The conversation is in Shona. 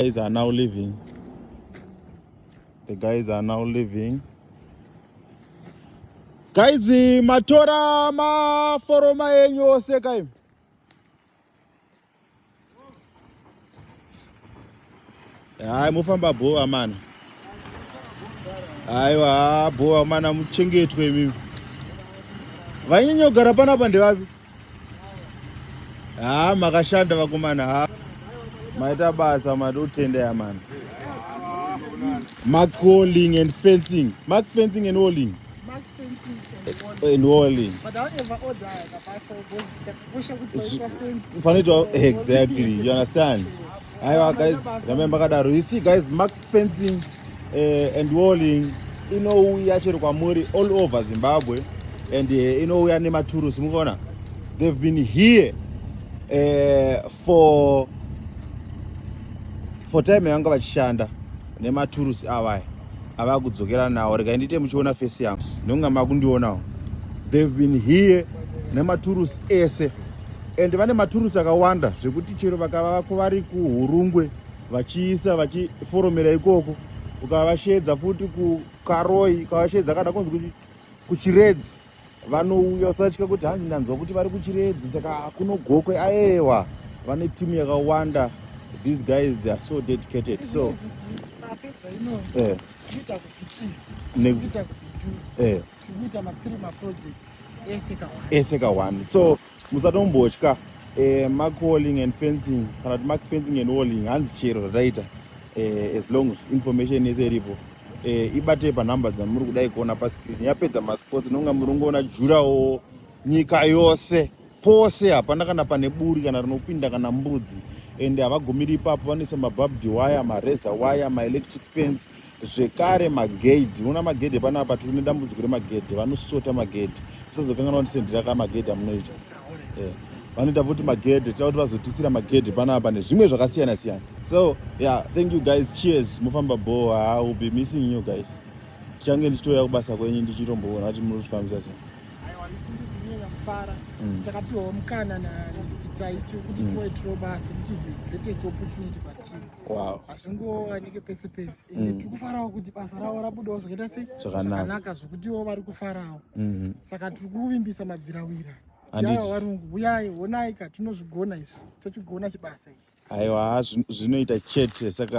guys are now leaving the guys are now leaving guys matora maforoma enyu ose kaim hayi mofamba bhova mana haiwa bhova mana muchengetwe imimi vainyanya kugara panapa ndevapi haa makashanda vakomana ha maita basa mati utendeya mani mark walling and fencing mark fencing and walling and walling panoitwa exactly you understand aiwa guys ramai makadaro you see guys mark Fencing uh, and walling inouya chero kwamuri all over Zimbabwe and uh, inouya nematurusi mukuona they've been here uh, for for time yanga vachishanda nematurusi avaya ava kudzokera nawo rega ndiite muchiona face yangu ndonga makundionawo they've been here nematurusi ese and vane maturusi akawanda zvekuti chero vakava vako vari kuhurungwe vachiisa vachiforomera ikoko ukavasheedza futi kukaroi ukavasheedza kana kunzi kuti kuchiredzi vanouya usatya kuti hanzi ndanzwa kuti vari kuchiredzi saka kunogokwe aewa vane timu yakawanda these guys they are so dedicated so eh. eh. ese kawani so musatombotya eh, mark walling and fencing kana kuti mark fencing and walling hanzi chero zvataita eh, as long as information yese iripo eh, ibatei panumber dzamuri kudai kuona pascreen yapedza masports inonga muri ungoona jurawo nyika yose pose hapana kana pane buri kana rinopinda kana mbudzi and havagumiri ipapo vanoisa mababdi waya mareza waya maelectric fence zvekare magedhi una magedhi panapa tiri nedambudziko remagedhi vanosota magedhi tisazokanganwa kuti sendira ka magedhi amunoita eh, vanoita futi magedhi tira kuti vazotisira magedhi panapa nezvimwe zvakasiyana siyana so yeah thank you guys cheers mofamba bho ha will be missing you guys tichange ndichitouya kubasa kwenyu ndichitomboona kuti muri kufambisa sei mm. takapiwa mukana natitai tiri kuti mm. tiwaitiro basa kuti is the greatest opportunity patiri Wow. Hazvingowanike pese pese. Ende mm. tiri kufarawo kuti basa ravo rabudawo zvakaita sei? Zvakanaka zvokutiwo vari kufarawo. Mm-hmm. Saka tiri kuvimbisa mabvirawira. Tiayo varungu huyai honai ka tinozvigona izvi. Tochigona chibasa ichi. Aiwa zvinoita chete saka